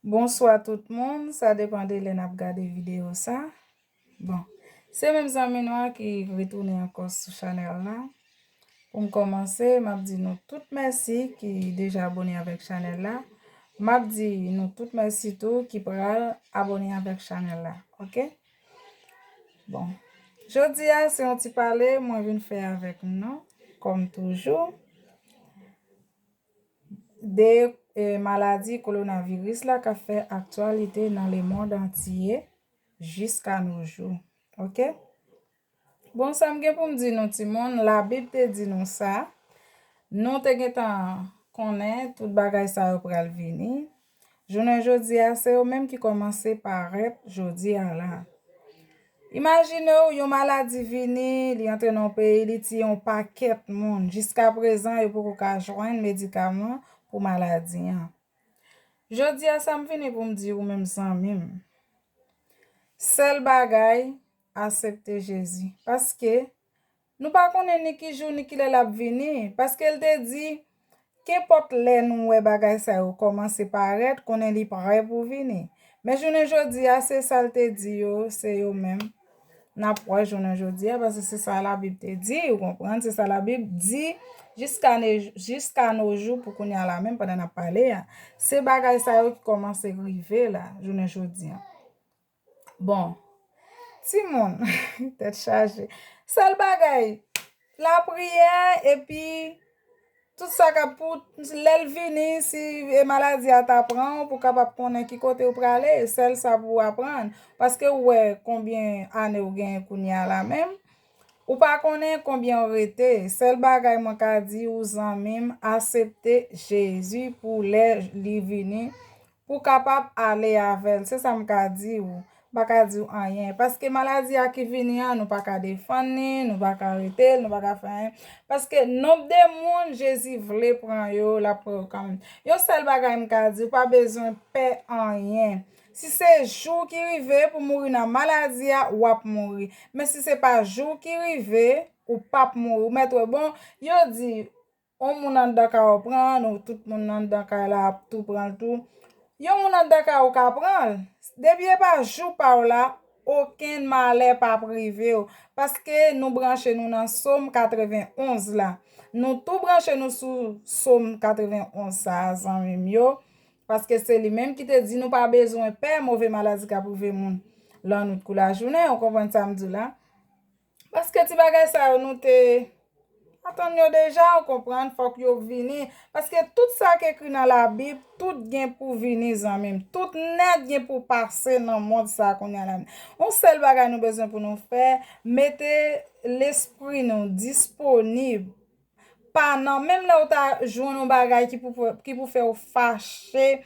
Bonswa tout moun, sa depan de lè nap gade video sa Bon, se menm zanmi nou an ki retounen ankò sou chanèl la Pou m kòmanse, map di nou tout mèsi ki deja abone avèk chanèl la Map di nou tout mèsi tou ki pral abone avèk chanèl la Ok Bon, jodi a se yon ti pale mwen vin fè avèk nou kòm toujou 2 maladi kolonaviris la k ap fè aktyalite nan lemond antye jiska nou jou ok bon sa m gen pou m di nou timoun labib te di nou sa nou te gentan konnen tout bagay sa yo pral vini Jounen jodi a, se yo menm ki kòmanse parèt jodi a la. Imajine w, yon maladi vini, li antre nan yon peyi, li tiye yon pakèt moun, jiska prezan yo poko ka jwenn medikaman pou maladi an. Jodi a sa m vini pou m di ou menm zanmi m, sèl bagay, asepte Jezi. Paske, Nou pa konnen ni ki jou ni ki lè l ap vini, paske l te di, Kenpòt lè nou wè bagay sa yo kòmanse parèt, konnen li pre pou vini. Men jounen jodi a, se sa l te di yo, se yo menm n ap wè jounen jodi a, paske se sa Labib te di, ou konprann, se sa Labib di jiska nojou pou kounye a la menm, pandan n ap pale a. Se bagay sa yo ki kòmanse rive la, jounen jodi a. Bon timoun tèt chaje sèl bagay lapriyè epi tout sa kap pou lèl vini si e maladi a ta pran ou pou kapab konnen ki kote ou prale sèl sa pou aprann paske ou wè konbyen ane ou gen kounya la menm ou pa konnen konbyen ou rete sèl bagay mwen ka di ou zanmim asepte Jezi pou lè li vini Pou kapab ale avè l. Se sa m ka di ou. M pa ka di ou anyen. Paske maladi a ki vini an, nou pa ka defann li, nou pa ka arete l, nou pa ka fè anyen. Paske nonb de moun Jezi vle pran yo, l ap pran yo kanmenm. Yon sèl bagay m ka di ou, pa bezwen pè anyen. Si se jou w ki rive pou mouri nan maladi a, w ap mouri. Men si se pa jou w ki rive, ou p ap mouri. Ou mèt wè, bon, yo di, On moun anndan kay ou pran an ou tout moun anndan kay la ap tou pranl tou yon moun anndan kay ou ka pranl depi epa jou paw la okenn malè pap rivew paske nou branche nou nan som 91 la nou tou branche nou sou som 91 sa zanmim yo paske se li menm ki te di nou pa bezwen pè move maladi kap rive moun lannwit kou lajounen ou konprann sam diw la Paske ti bagay sa yo nou te atann yo deja ou konprann fòk yo vini paske tout sa k ekri nan labib tout gen pou vini zanmi m tout nèt gen pou pase nan mond sa kounya la yon sèl bagay nou bezwen pou nou fè mete lespri nou disponib Pa nan, menm lè ou ta jwenn yon bagay ki pou fè ou fache,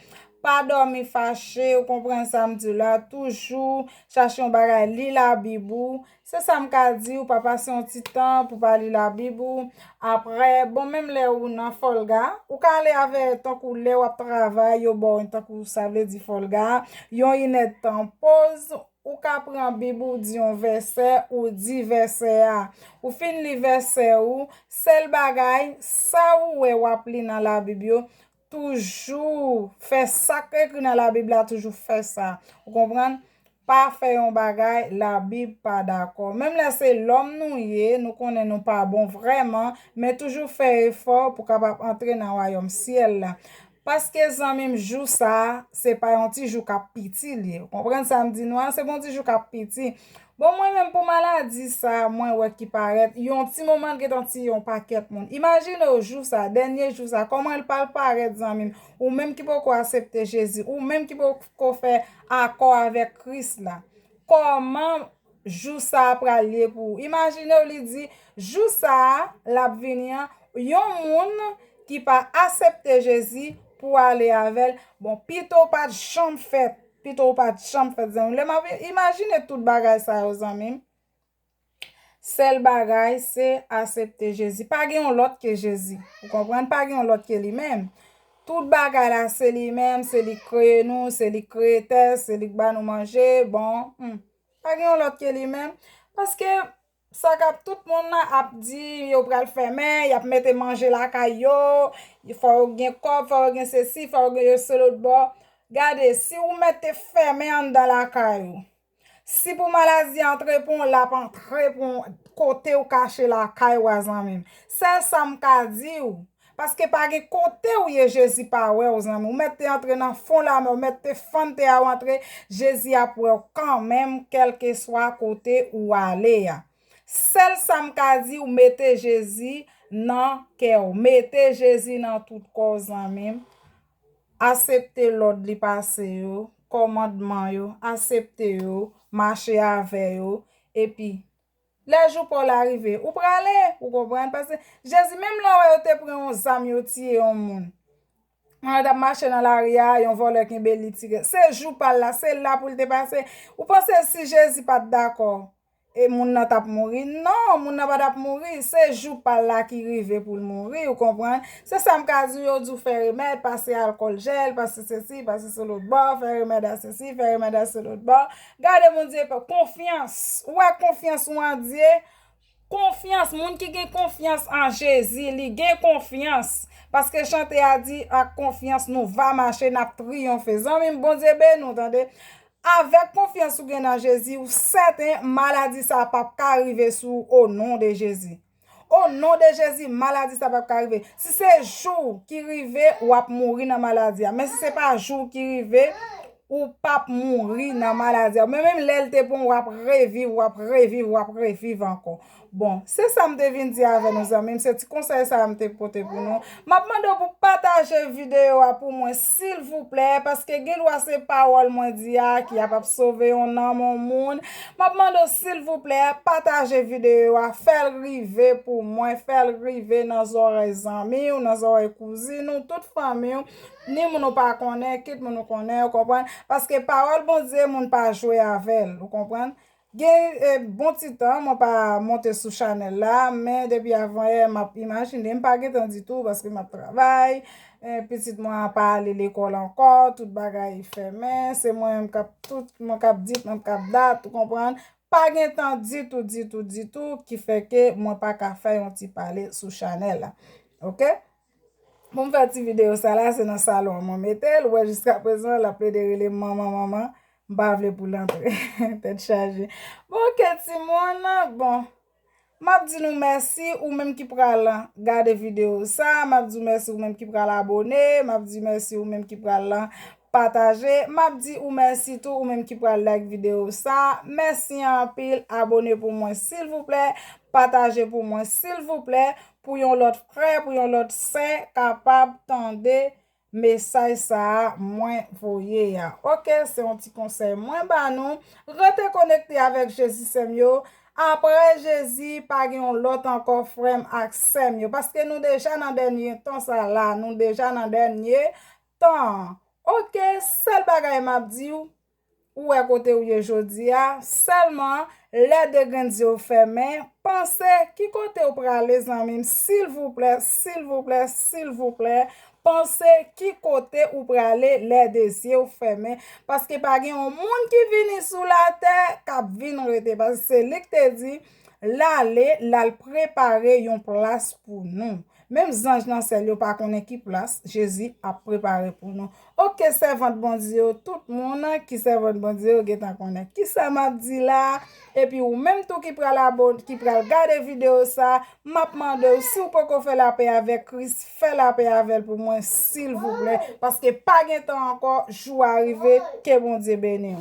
pa dòmi fache, ou konprann sa m di w la, toujou chache yon bagay li labib ou, se sa m ka di w, pa pase yon ti tan pou pa li labib ou, aprè, bon menm lè ou nan fòlga, ou ka ale avè tankou lè w ap travay yo ba w tankou sa vle di fòlga, yon inèdtan poz. Ou ka pran bib ou di yon vèsè ou di vèsè a. Ou fin li vèsè ou, sèl bagay, sa ou wè wap li nan labib yo, toujou fè sak ekri nan labib la toujou fè sa. Ou konprann? Pa fè yon bagay labib pa dakò. Menm lè se lòm nou ye, nou konnen nou pa bon vrèman, men toujou fè efò pou kapab antre nan wayòm syèl la. Paske zanmim jou sa se pa yon ti jou kap piti li ye ou konprann sam di nou an se pa yon ti jou kap piti bon mwen menm pou maladi sa mwen wè ki parèt yon ti moman l gentan tiye yon pakèt moun imajine w jou sa dènye jou sa kòman l pral parèt zanmim ou menm ki poko asepte jezi ou menm ki poko fè akò avèk kris la kòman Jou sa a pral ye pou ou. Imajine w li di, Jou sa a, l ap vini an, yon moun ki pa asepte Jezi pou ale avè l, bon, pito w pa t janm fèt, pito w pa t janm fèt, zanmi m. Lè m ap imajine tout bagay sa yo, zanmi m, sèl bagay se asepte Jezi. Pa gen yon lòt ke Jezi. Ou konprann? Pa gen yon lòt ke li menm. Tout bagay la, se li menm, se li k kreye nou, se li k kreye tè, se li k ba nou manje, bon, hum. Pa gen yon lòt ke li menm. Paske sa kap tout moun la ap di yo pral fèmen, yap mete manje lakay yo, fò yo gen kòb, fò yo gen sesi, fò yo gen yo se lòt bò. Gade, si ou mete fèmen anndan lakay ou, si pou maladi antre pou ou, lap antre pou ou kote ou kache lakay ou a zanmi m. Sèl sa m ka di ou, Paske pa gen kote ou ye jezi pa wèw zanmi ou mèt te antre nan fon lamè ou mèt te fann tè a ou antre jezi ap wèw kanmenm kèlkeswa kote ou ale a sèl sam ka diw mete jezi nan kèw mete jezi nan tout kòw zanmi m asepte lòd li pase yo kòmandman yo asepte yo mache avè yo epi. Lè jou pa w la rive, ou prale, ou konprann, paske Jezi menm lè w wè yo te pran yon zam yo tiye yon moun, pandan l t ap mache nan lari a, yon vòlè kenbe l li tire l, se jou pa l la, se la pou l te pase, ou panse si Jezi pa t dakò e moun nan t ap mouri, non, moun nan pa t ap mouri, se jou pa l la ki rive pou l mouri, ou konprann, se sa m ka di w, yo di w fè remèd, pase alkòl jèl, pase sesi, pase selotbò, fè remèd a sesi, fè remèd a selotbò. Gade Bondye pa konfyans ou wè konfyans ou an Dye konfyans moun ki gen konfyans an Jezi li gen konfyans paske chante a di ak konfyans nou va mache nap triyonfe zanmim Bondye beni w tande avèk konfyans ou gen nan Jezi ou sèten maladi sa pap ka rive sou ou o non de Jezi. O non de jezi maladi sa pap ka rive si se jou ki rive wap mouri nan maladi a men si se pa jou ki rive ou pap mouri nan maladi a men menm lèl te bon wap reviv wap reviv wap reviv ankò bon se sa m te vin di avè nou zanmim se ti konsèy sa m te pote pou nou map mande w pou pataje video a pou mwen. Silvouplè, paske gen dwa se pawòl mwen di a ki ap ap sove yon nanm yon moun, m ap mande w silvouplè, pataje videyo a, fè l rive pou mwen, fè l rive nan zòrèy zanmi w, nan zòrèy kouzin ou, tout fanmi w, ni moun ou pa konnen, kit moun ou konnen, ou konprann, paske pawòl Bondye moun pa jwe avè l, ou konprann. Gen yn bon ti tan mwen pa monte sou chanèl la men depi avan yè map imajinem pa gentan ditou paske map travay pitit mwen an pa ale lekòl ankò tout bagay fèmen se mwen menm kap tout mwen kap dit mwen kap dat ou konprann pa gentan ditou ditou ditou ki fè ke mwen paka fè yon ti pale sou chanèl la ok. Poum fè ti video sa la se nan salon an mwen metel, ou wè jiska prezan lap plede relem manman manman, m pa vle poul antre tèt chaje. Bon ok ti moun, bon map di nou mèsi ou menm ki pral gade video sa, map di ou mèsi ou menm ki pral abone, map di mèsi ou menm ki pral pataje, map di ou mèsi tou ou menm ki pral like video sa, mèsi anpil abone pou mwen silvouplè, pataje pou mwen silvouplè. pou yon lòt frè, pou yon lòt sè kapab tande mesaj sa a mwen voye a. Ok, se yon ti konsèy mwen ba nou. Rete konekte avèk Jezi sè m yo. Aprè Jezi, pa gen yon lòt ankò frè m ak sè m yo. Paske nou deja nan dènye tan sa la. Nou deja nan dènye tan. Ok, sèl bagay m ap di ou. Ou wè kote ou ye jodi a, sèlman lè de grenn zye w fèmen, panse ki kote ou prale zanmi m silvouplè, silvouplè, silvouplè, panse ki kote ou prale lè de zye w fèmen, paske pa gen yon moun ki vini sou latè k ap vin rete, paske se li k te di l ale, l al prepare yon plas pou nou. Menm zanj nan syèl yo pa konnen ki plas Jezi ap prepare pou nou. Ok sèvant Bondye yo tout moun ki sèvant Bondye yo gentan konnen kisa map di la epi ou menm tou ki pral abone ki pral gade video sa map mandew siw poko fè lapè avèk Kris fè lapè avèl pou mwen silvouplè paske pa gen tan ankò jou a rive ke Bondye beniw.